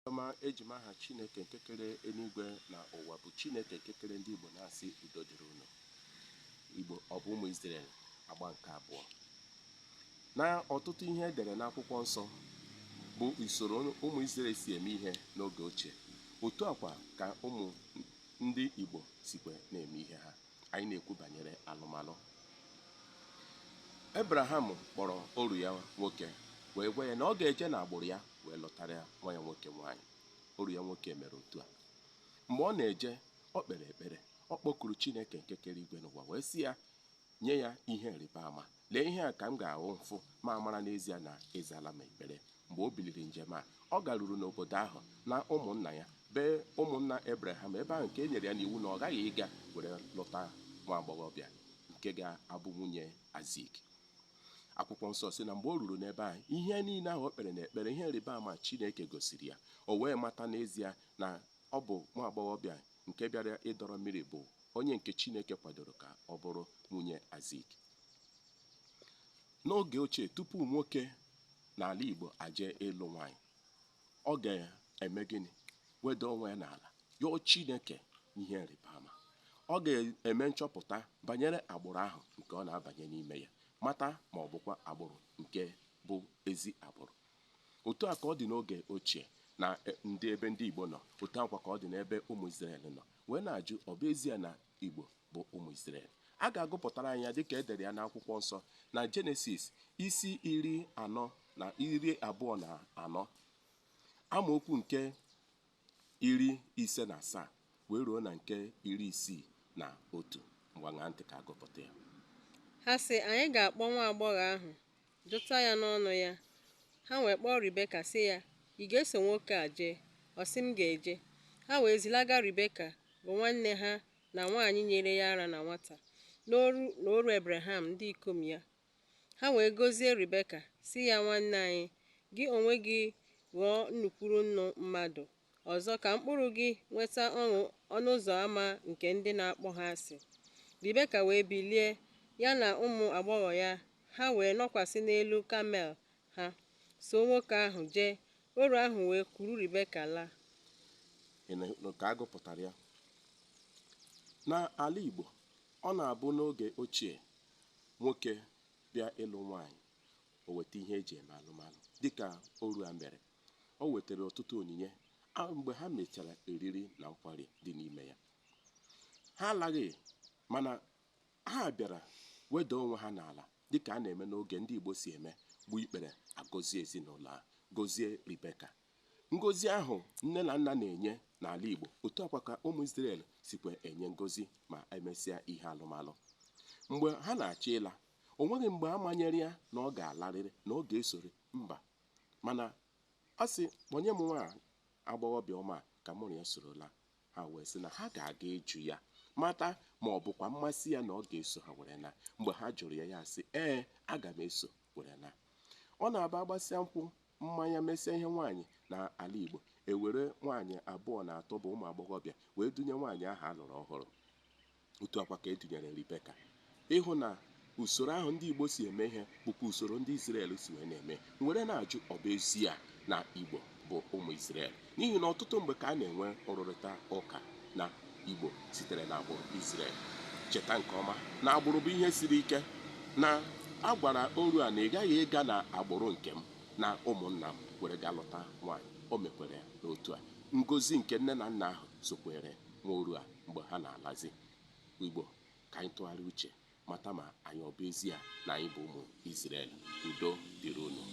ọma eji m aha chineke nke kere eluigwe na ụwa bụ chineke nke kere ndị igbo na-asị udo dịrị unu igbo ọ bụ ụmụ Izrel agba nke abụọ na ọtụtụ ihe e dere n'akwụkwọ nsọ bụ usoro ụmụ Izrel si eme ihe n'oge ochie otu a kwa ka ụmụ ndị igbo sikwa na-eme ihe ha anyị na-ekwu banyere alụmalụ ebraham kpọrọ oru ya nwoke wee gwa ya na ọ ga-eje n'agbụrụ ya wee lụtara nwa ya nwoke nwaanyị oru ya nwoke mere otu a mgbe ọ na-eje o kpere ekpere ọ kpọkuru chineke nke kere igwe na ụwa wee sị ya nye ya ihe ịrịba ama lee ihe a ka m ga-ahụ m fụ ma mara n'ezie na ị zaala m ekpere mgbe o biliri njem a ọ garuru n'obodo ahụ na ụmụnna ya be ụmụnna ebraham ebe ahụ nke e nyere ya n'iwu na ọ ghaghị ịga were lụta nwa agbọghọbịa nke ga-abụ nwunye Aịzik akwụkwọ nsọ sị na mgbe o ruru n'ebe ahụ ihe niile ahụ o kpere n'ekpere ihe ịrịba ama chineke gosiri ya o wee mata n'ezie na Ọ bụ nwa agbọghọbịa nke bịara ịdọrọ mmiri bụ onye nke Chineke kwadoro ka ọ bụrụ nwunye Aịzik. N'oge ochie, tupu nwoke n'ala Igbo aje ịlụ nwaanyị, ọ ga-eme gịnị? Weda onwe ya n'ala, yọọ Chineke ihe nrịba ama. Ọ ga-eme nchọpụta banyere agbụrụ ahụ nke ọ na-abanye n'ime ya, mata ma ọ bụkwa agbụrụ nke bụ ezi agbụrụ otu a ka ọ dị n'oge ochie na e, ndị ebe ndị Igbo nọ otu a kwa ka ọ dị n'ebe ụmụ Izrel nọ wee na-ajụ ọ bụ ezie na Igbo bụ ụmụ Izrel a ga-agụpụtara anyị ya dịka e dere ya n'akwụkwọ nsọ na Jenesis isi iri anọ na iri abụọ na anọ amaokwu nke iri ise na asaa wee ruo na nke iri isii na otu ngwa ṅaa ntị ka a gụpụta ya Ha sị, Anyị ga-akpọ nwa agbọghọ ahụ, jụta ya n'ọnụ ya. Ha wee kpọọ Ribeka sị ya, Ị ga-eso nwoke a jee? Ọ sị, M ga-eje. Ha wee zilaga Ribeka, bụ nwanne ha na nwaanyị nyere ya ara na nwata, na oru na oru Ebreham, ndị ikom ya, Ha wee gọzie Ribeka, sị ya, Nwanne anyị, gị onwe gị ghọọ nnụ kwuru nnụ mmadụ. Ọzọ, ka mkpụrụ gị nweta ọnụ ọnụ ụzọ ama nke ndị na-akpọ ha asị. Ribeka wee bilie, ya na ụmụ agbọghọ ya, ha wee nọkwasị n'elu kamel ha, soo nwoke ahụ jee. Oru ahụ wee kuru Ribeka laa. Ị na-ekwu ka a gụpụtara ya. N'ala Igbo, ọ na-abụ n'oge ochie nwoke bịa ịlụ nwaanyị o weta ihe e ji eme alụmalụ dịka oru a mere o wetara ọtụtụ onyinye a mgbe ha mechara oriri na nkwari dị n'ime ya ha alaghị mana ha bịara weda onwe ha n'ala dịka a na-eme n'oge ndị Igbo si eme gbuo ikpere a gọzie ezinụlọ a gọzie Ribeka Ngozi ahụ nne na nna na-enye n'ala Igbo, otu a kwa ka ụmụ Izrel sikwa enye ngozi ma e mesịa ihe alụmalụ. Mgbe ha na-achọ ịla, o nweghị mgbe a manyere ya na ọ ga-alarịrị, na ọ ga-esori, mba. Mana ọ sị, kpọnye m nwa agbọghọbịa ọma a ka mụ na ya soro laa. Ha wee sị na ha ga-aga ịjụ ya mata ma ọ bụkwa mmasị ya na ọ ga-eso ha were na. Mgbe ha jụrụ ya, ya asị, ee, aga m eso were na. Ọ na-abụ a gbasịa nkwụ, mmanya mesịa ihe nwaanyị n'ala Igbo e were nwaanyị abụọ na atọ bụ ụmụ agbọghọbịa wee dunye nwaanyị ahụ a lụrụ ọhụrụ otu a kwa ka e dunyere Ribeka ị hụ na usoro ahụ ndị Igbo si eme ihe bụkwa usoro ndị Izrel si wee na-eme m were na-ajụ ọ bụ ezie na Igbo bụ ụmụ Izrel N'ihi na ọtụtụ mgbe ka a na-enwe nrụrịta ụka na Igbo sitere n'agbụrụ Izrel. Cheta nke ọma na agbụrụ bụ ihe siri ike, na a gwara oru a na ị ghaghị ịga n'agbụrụ nke m na ụmụnna m were ga lụta nwaanyị. O mekwara ya n'otu a. Ngozi nke nne na nna ahụ sokweere nwa oru a mgbe ha na-alazi. Igbo, ka anyị tụgharịa uche mata ma anyị ọ bụ ezie na anyị bụ ụmụ Izrel. Udo dịrị unu.